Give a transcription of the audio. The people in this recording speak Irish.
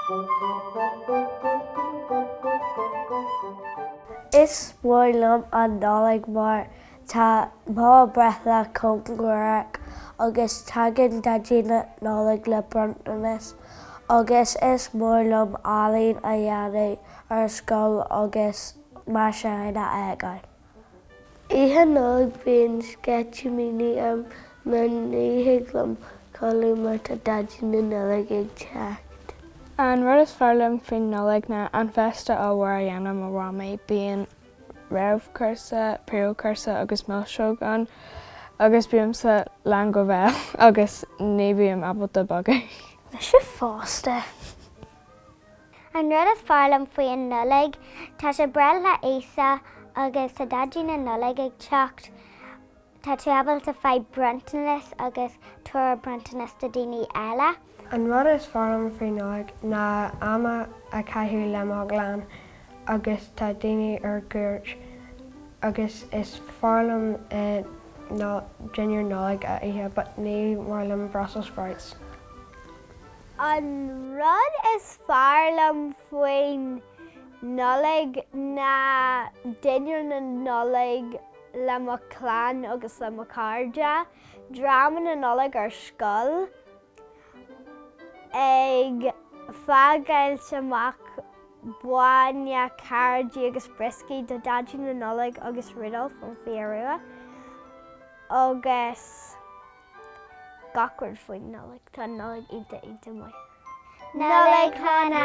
Is mór liom an Nollaig mar tá mo breithlá cóngarach agus tagann Daidí na Nollag le bronntanas agus is mór liom ealaín a dhéanamh ar scoil agus. mar sin a fhágáil. Oíche Nollag bíonn sceitimíní orm mar ní thig liom codladh mar tá Daidí na Nollag ag teacht. An rud is fearr liom faoin Nollaig ná an féasta ollmhór a dhéanann mo mhamaí, bíonn réamhchúrsa, príomhchúrsa agus milseog ann agus bímse lán go béal agus ní bhím ábalta bogadh. Mise fosta. An rud is fearr liom faoi an Nollaig, tá sé breithlá Íosa agus tá Daidí na Nollag ag teacht, tá tú ábalta faigh bronntanas agus tabhair bronntanas do daoine eile. An rud is fearr liom faoin Nollaig ná am a chaitheamh le mo chlann agus tá daoine ar cuairt agus is fearr liom dinnéar Nollag a ithe but ní maith liom Brussels sprouts. An rud is fearr liom faoin Nollaig ná dinnéar na Nollag le mo chlann agus le mo chairde, dráma na Nollag ar scoil, ag fágáilt amach bainne, cairéid agus brioscaí do Daidí na Nollag agus Rudolf an Fia Rua, agus. Gach rud faoin Nollaig. Tá an Nollaig iontach iontach maith. Nollaig Shona!